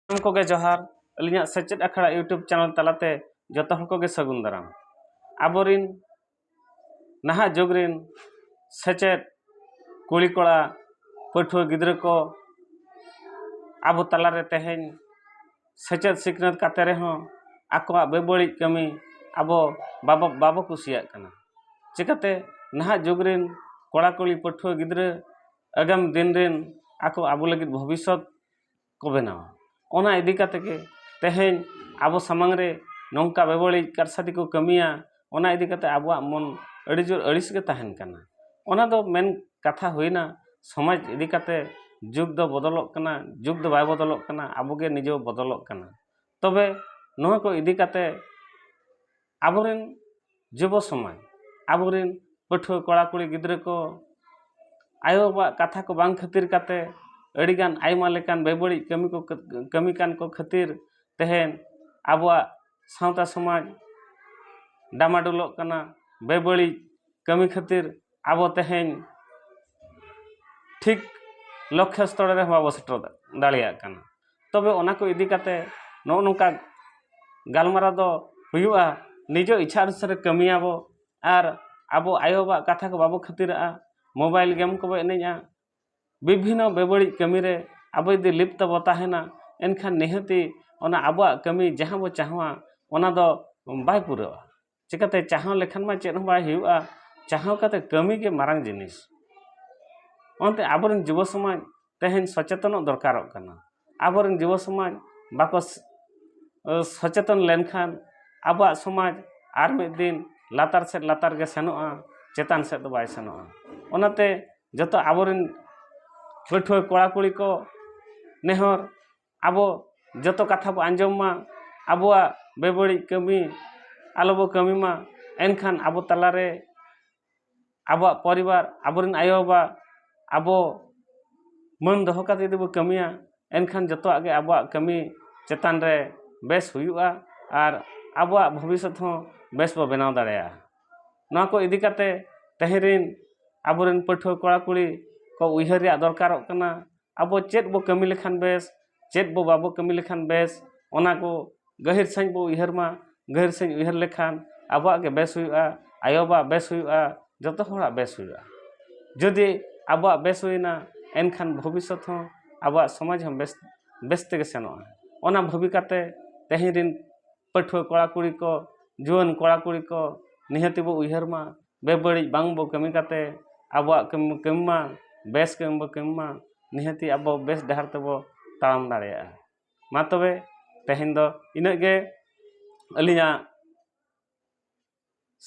ᱥᱟᱱᱟᱢ ᱠᱚᱜᱮ ᱡᱚᱦᱟᱨ ᱟᱹᱞᱤᱧᱟᱜ ᱥᱮᱪᱮᱫ ᱟᱠᱷᱲᱟ ᱤᱭᱩᱴᱩᱵᱽ ᱪᱮᱱᱮᱞ ᱛᱟᱞᱟᱛᱮ ᱡᱚᱛᱚ ᱦᱚᱲ ᱠᱚᱜᱮ ᱥᱟᱹᱜᱩᱱ ᱫᱟᱨᱟᱢ ᱟᱵᱚᱨᱤᱱ ᱱᱟᱦᱟᱜ ᱡᱩᱜᱽ ᱨᱤᱱ ᱥᱮᱪᱮᱫ ᱠᱩᱲᱤ ᱠᱚᱲᱟ ᱯᱟᱹᱴᱷᱩᱣᱟᱹ ᱜᱤᱫᱽᱨᱟᱹ ᱠᱚ ᱟᱵᱚ ᱛᱟᱞᱟᱨᱮ ᱛᱮᱦᱮᱧ ᱥᱮᱪᱮᱫ ᱥᱤᱠᱷᱱᱟᱹᱛ ᱠᱟᱛᱮ ᱨᱮᱦᱚᱸ ᱟᱠᱚᱣᱟᱜ ᱵᱮᱵᱟᱹᱲᱤᱡ ᱠᱟᱹᱢᱤ ᱟᱵᱚ ᱵᱟᱵᱚ ᱵᱟᱵᱚ ᱠᱩᱥᱤᱭᱟᱜ ᱠᱟᱱᱟ ᱪᱤᱠᱟᱹᱛᱮ ᱱᱟᱦᱟᱜ ᱡᱩᱜᱽ ᱨᱤᱱ ᱠᱚᱲᱟ ᱠᱩᱲᱤ ᱯᱟᱹᱴᱷᱩᱣᱟᱹ ᱜᱤᱫᱽᱨᱟᱹ ᱟᱜᱟᱢ ᱫᱤᱱ ᱨᱤᱱ ᱟᱠᱚ ᱟᱵᱚ ᱞᱟᱹᱜᱤᱫ ᱵᱷᱚᱵᱤᱥᱥᱚᱛ ᱠᱚ ᱵᱮᱱᱟᱣᱟ ᱚᱱᱟ ᱤᱫᱤ ᱠᱟᱛᱮ ᱜᱮ ᱛᱮᱦᱮᱧ ᱟᱵᱚ ᱥᱟᱢᱟᱝ ᱨᱮ ᱱᱚᱝᱠᱟ ᱵᱮᱵᱟᱹᱲᱤᱡ ᱠᱟᱨᱥᱟᱛᱤ ᱠᱚ ᱠᱟᱹᱢᱤᱭᱟ ᱚᱱᱟ ᱤᱫᱤ ᱠᱟᱛᱮ ᱟᱵᱚᱣᱟᱜ ᱢᱚᱱ ᱟᱹᱰᱤ ᱡᱳᱨ ᱟᱹᱲᱤᱥ ᱜᱮ ᱛᱟᱦᱮᱱ ᱠᱟᱱᱟ ᱚᱱᱟ ᱫᱚ ᱢᱮᱱ ᱠᱟᱛᱷᱟ ᱦᱩᱭᱮᱱᱟ ᱥᱚᱢᱟᱡᱽ ᱤᱫᱤ ᱠᱟᱛᱮ ᱡᱩᱜᱽ ᱫᱚ ᱵᱚᱫᱚᱞᱚᱜ ᱠᱟᱱᱟ ᱡᱩᱜᱽ ᱫᱚ ᱵᱟᱭ ᱵᱚᱫᱚᱞᱚᱜ ᱠᱟᱱᱟ ᱟᱵᱚ ᱜᱮ ᱱᱤᱡᱮ ᱵᱚᱱ ᱵᱚᱫᱚᱞᱚᱜ ᱠᱟᱱᱟ ᱛᱚᱵᱮ ᱱᱚᱣᱟ ᱠᱚ ᱤᱫᱤ ᱠᱟᱛᱮ ᱟᱵᱚᱨᱮᱱ ᱡᱩᱵᱚ ᱥᱚᱢᱟᱡᱽ ᱟᱵᱚᱨᱮᱱ ᱯᱟᱹᱴᱷᱩᱣᱟᱹ ᱠᱚᱲᱟ ᱠᱩᱲᱤ ᱜᱤᱫᱽᱨᱟᱹ ᱠᱚ ᱟᱭᱳ ᱵᱟᱵᱟᱣᱟᱜ ᱠᱟᱛᱷᱟ ᱠᱚ ᱵᱟᱝ ᱠᱷᱟᱹᱛᱤᱨ ᱠᱟᱛᱮ ᱟᱹᱰᱤᱜᱟᱱ ᱟᱭᱢᱟ ᱞᱮᱠᱟᱱ ᱵᱮᱵᱟᱹᱲᱤᱡ ᱠᱟᱹᱢᱤ ᱠᱚ ᱠᱟᱹᱢᱤ ᱠᱟᱱ ᱠᱚ ᱠᱷᱟᱹᱛᱤᱨ ᱛᱮᱦᱮᱱ ᱟᱵᱚᱣᱟᱜ ᱥᱟᱶᱛᱟ ᱥᱚᱢᱟᱡᱽ ᱰᱟᱢᱟᱰᱳᱞᱚᱜ ᱠᱟᱱᱟ ᱵᱮᱵᱟᱹᱲᱤᱡ ᱠᱟᱹᱢᱤ ᱠᱷᱟᱹᱛᱤᱨ ᱟᱵᱚ ᱛᱮᱦᱮᱧ ᱴᱷᱤᱠ ᱞᱚᱠᱠᱷᱚ ᱥᱛᱚᱨ ᱨᱮᱦᱚᱸ ᱵᱟᱵᱚ ᱥᱮᱴᱮᱨ ᱫᱟᱲᱮᱭᱟᱜ ᱠᱟᱱᱟ ᱛᱚᱵᱮ ᱚᱱᱟ ᱠᱚ ᱤᱫᱤ ᱠᱟᱛᱮᱫ ᱱᱚᱜᱼᱚ ᱱᱚᱝᱠᱟ ᱜᱟᱞᱢᱟᱨᱟᱣ ᱫᱚ ᱦᱩᱭᱩᱜᱼᱟ ᱱᱤᱡᱮ ᱤᱪᱪᱷᱟ ᱚᱱᱩᱥᱟᱨᱮ ᱠᱟᱹᱢᱤᱭᱟᱵᱚ ᱟᱨ ᱟᱵᱚ ᱟᱭᱳ ᱵᱟᱵᱟᱣᱟᱜ ᱠᱟᱛᱷᱟ ᱠᱚ ᱵᱟᱵᱚ ᱠᱷᱟᱹᱛᱤᱨᱟᱜᱼᱟ ᱢᱳᱵᱟᱭᱤᱞ ᱜᱮᱢ ᱠᱚᱵᱚ ᱮᱱᱮᱡᱼᱟ ᱵᱤᱵᱷᱤᱱᱱᱚ ᱵᱮᱵᱟᱹᱲᱤᱡ ᱠᱟᱹᱢᱤ ᱨᱮ ᱟᱵᱚ ᱡᱩᱫᱤ ᱞᱤᱯᱛᱚ ᱵᱚ ᱛᱟᱦᱮᱱᱟ ᱮᱱᱠᱷᱟᱱ ᱱᱤᱦᱟᱹᱛᱤ ᱚᱱᱟ ᱟᱵᱚᱣᱟᱜ ᱠᱟᱹᱢᱤ ᱡᱟᱦᱟᱸ ᱵᱚ ᱪᱟᱦᱟᱣᱟ ᱚᱱᱟ ᱫᱚ ᱵᱟᱭ ᱯᱩᱨᱟᱹᱜᱼᱟ ᱪᱤᱠᱟᱹᱛᱮ ᱪᱟᱦᱟᱣ ᱞᱮᱠᱷᱟᱱ ᱢᱟ ᱪᱮᱫ ᱦᱚᱸ ᱵᱟᱭ ᱦᱩᱭᱩᱜᱼᱟ ᱪᱟᱦᱟᱣ ᱠᱟᱛᱮ ᱠᱟᱹᱢᱤ ᱜᱮ ᱢᱟᱨᱟᱝ ᱡᱤᱱᱤᱥ ᱚᱱᱟᱛᱮ ᱟᱵᱚ ᱨᱮᱱ ᱡᱩᱵᱚ ᱥᱚᱢᱟᱡᱽ ᱛᱮᱦᱮᱧ ᱥᱚᱪᱮᱛᱚᱱᱚᱜ ᱫᱚᱨᱠᱟᱨᱚᱜ ᱠᱟᱱᱟ ᱟᱵᱚ ᱨᱮᱱ ᱡᱩᱵᱚ ᱥᱚᱢᱟᱡᱽ ᱵᱟᱠᱚ ᱥᱚᱪᱮᱛᱚᱱ ᱞᱮᱱᱠᱷᱟᱱ ᱟᱵᱚᱣᱟᱜ ᱥᱚᱢᱟᱡᱽ ᱟᱨ ᱢᱤᱫ ᱫᱤᱱ ᱞᱟᱛᱟᱨ ᱥᱮᱫ ᱞᱟᱛᱟᱨ ᱜᱮ ᱥᱮᱱᱚᱜᱼᱟ ᱪᱮᱛᱟᱱ ᱥᱮᱫ ᱫᱚ ᱵᱟᱭ ᱥᱮᱱᱚᱜᱼᱟ ᱚᱱᱟᱛᱮ ᱡᱚᱛᱚ ᱟᱵᱚ ᱨᱮᱱ ᱯᱟᱹᱴᱷᱩᱣᱟᱹ ᱠᱚᱲᱟ ᱠᱩᱲᱤ ᱠᱚ ᱱᱮᱦᱚᱨ ᱟᱵᱚ ᱡᱚᱛᱚ ᱠᱟᱛᱷᱟ ᱵᱚᱱ ᱟᱸᱡᱚᱢ ᱢᱟ ᱟᱵᱚᱣᱟᱜ ᱵᱮᱵᱟᱹᱲᱤᱡ ᱠᱟᱹᱢᱤ ᱟᱞᱚ ᱵᱚᱱ ᱠᱟᱹᱢᱤ ᱢᱟ ᱮᱱᱠᱷᱟᱱ ᱟᱵᱚ ᱛᱟᱞᱟᱨᱮ ᱟᱵᱚᱣᱟᱜ ᱯᱚᱨᱤᱵᱟᱨ ᱟᱵᱚ ᱨᱮᱱ ᱟᱭᱳᱼᱵᱟᱵᱟ ᱟᱵᱚ ᱢᱟᱹᱱ ᱫᱚᱦᱚ ᱠᱟᱛᱮᱫ ᱡᱩᱫᱤ ᱵᱚᱱ ᱠᱟᱹᱢᱤᱭᱟ ᱮᱱᱠᱷᱟᱱ ᱡᱚᱛᱚᱣᱟᱜ ᱜᱮ ᱟᱵᱚᱣᱟᱜ ᱠᱟᱹᱢᱤ ᱪᱮᱛᱟᱱ ᱨᱮ ᱵᱮᱥ ᱦᱩᱭᱩᱜᱼᱟ ᱟᱨ ᱟᱵᱚᱣᱟᱜ ᱵᱷᱚᱵᱤᱥᱥᱚᱛ ᱦᱚᱸ ᱵᱮᱥ ᱵᱚᱱ ᱵᱮᱱᱟᱣ ᱫᱟᱲᱮᱭᱟᱜᱼᱟ ᱱᱚᱣᱟ ᱠᱚ ᱤᱫᱤ ᱠᱟᱛᱮᱫ ᱛᱮᱦᱮᱧ ᱨᱮᱱ ᱟᱵᱚ ᱨᱮᱱ ᱯᱟᱹᱴᱷᱩᱣᱟᱹ ᱠᱚᱲᱟᱼᱠᱩᱲᱤ ᱠᱚ ᱩᱭᱦᱟᱹᱨ ᱨᱮᱭᱟᱜ ᱫᱚᱨᱠᱟᱨᱚᱜ ᱠᱟᱱᱟ ᱟᱵᱚ ᱪᱮᱫ ᱵᱚ ᱠᱟᱹᱢᱤ ᱞᱮᱠᱷᱟᱱ ᱵᱮᱥ ᱪᱮᱫ ᱵᱚ ᱵᱟᱵᱚ ᱠᱟᱹᱢᱤ ᱞᱮᱠᱷᱟᱱ ᱵᱮᱥ ᱚᱱᱟ ᱠᱚ ᱜᱟᱹᱦᱤᱨ ᱥᱟᱺᱦᱤᱡ ᱵᱚ ᱩᱭᱦᱟᱹᱨ ᱢᱟ ᱜᱟᱹᱦᱤᱨ ᱥᱟᱺᱦᱤᱡ ᱩᱭᱦᱟᱹᱨ ᱞᱮᱠᱷᱟᱱ ᱟᱵᱚᱣᱟᱜ ᱜᱮ ᱵᱮᱥ ᱦᱩᱭᱩᱜᱼᱟ ᱟᱭᱳ ᱵᱟᱵᱟ ᱟᱜ ᱵᱮᱥ ᱦᱩᱭᱩᱜᱼᱟ ᱡᱚᱛᱚ ᱦᱚᱲᱟᱜ ᱵᱮᱥ ᱦᱩᱭᱩᱜᱼᱟ ᱡᱩᱫᱤ ᱟᱵᱚᱣᱟᱜ ᱵᱮᱥ ᱦᱩᱭᱱᱟ ᱮᱱᱠᱷᱟᱱ ᱵᱷᱚᱵᱤᱥᱥᱚᱛ ᱦᱚᱸ ᱟᱵᱚᱣᱟᱜ ᱥᱚᱢᱟᱡᱽ ᱦᱚᱸ ᱵᱮᱥ ᱵᱮᱥ ᱛᱮᱜᱮ ᱥᱮᱱᱚᱜᱼᱟ ᱚᱱᱟ ᱵᱷᱟᱹᱵᱤ ᱠᱟᱛᱮᱫ ᱛᱮᱦᱮᱧ ᱨᱤᱱ ᱯᱟᱹᱴᱷᱩᱣᱟᱹ ᱠᱚᱲᱟ ᱠᱩᱲᱤ ᱠᱚ ᱡᱩᱣᱟᱹᱱ ᱠᱚᱲᱟ ᱠᱩᱲᱤ ᱠᱚ ᱱᱤᱦᱟᱹᱛᱤ ᱵᱚ ᱩᱭᱦᱟᱹᱨ ᱢᱟ ᱵᱮᱵᱟᱹᱲᱤᱡ ᱵᱟᱝ ᱵᱚ ᱠᱟᱹᱢᱤ ᱠᱟᱛᱮ ᱟᱵᱚᱣᱟᱜ ᱠᱟᱹᱢᱤ ᱵᱚ ᱠᱟᱹᱢᱤ ᱢᱟ ᱵᱮᱥ ᱠᱟᱹᱢᱤ ᱵᱚ ᱠᱟᱹᱢᱤ ᱢᱟ ᱱᱤᱦᱟᱹᱛᱤ ᱟᱵᱚ ᱵᱮᱥ ᱰᱟᱦᱟᱨ ᱛᱮᱵᱚ ᱛᱟᱲᱟᱢ ᱫᱟᱲᱮᱭᱟᱜᱼᱟ ᱢᱟ ᱛᱚᱵᱮ ᱛᱮᱦᱮᱧ ᱫᱚ ᱤᱱᱟᱹᱜ ᱜᱮ ᱟᱹᱞᱤᱧᱟᱜ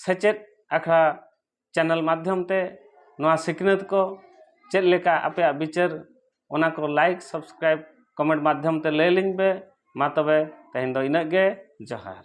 ᱥᱮᱪᱮᱫ ᱟᱠᱷᱲᱟ ᱪᱮᱱᱮᱞ ᱢᱟᱫᱽᱫᱷᱚᱢ ᱛᱮ ᱱᱚᱣᱟ ᱥᱤᱠᱷᱱᱟᱹᱛ ᱠᱚ ᱪᱮᱫ ᱞᱮᱠᱟ ᱟᱯᱮᱭᱟᱜ ᱵᱤᱪᱟᱹᱨ ᱚᱱᱟ ᱠᱚ ᱞᱟᱭᱤᱠ ᱥᱟᱵᱥᱠᱨᱟᱭᱤᱵᱽ ᱠᱚᱢᱮᱱᱴ ᱢᱟᱫᱽᱫᱷᱚᱢ ᱛᱮ ᱞᱟᱹᱭᱟᱞᱤᱧ ᱯᱮ ᱢᱟ ᱛᱚᱵᱮ ᱛᱮᱦᱮᱧ ᱫᱚ ᱤᱱᱟᱹᱜ ᱜᱮ ᱡᱚᱦᱟᱨ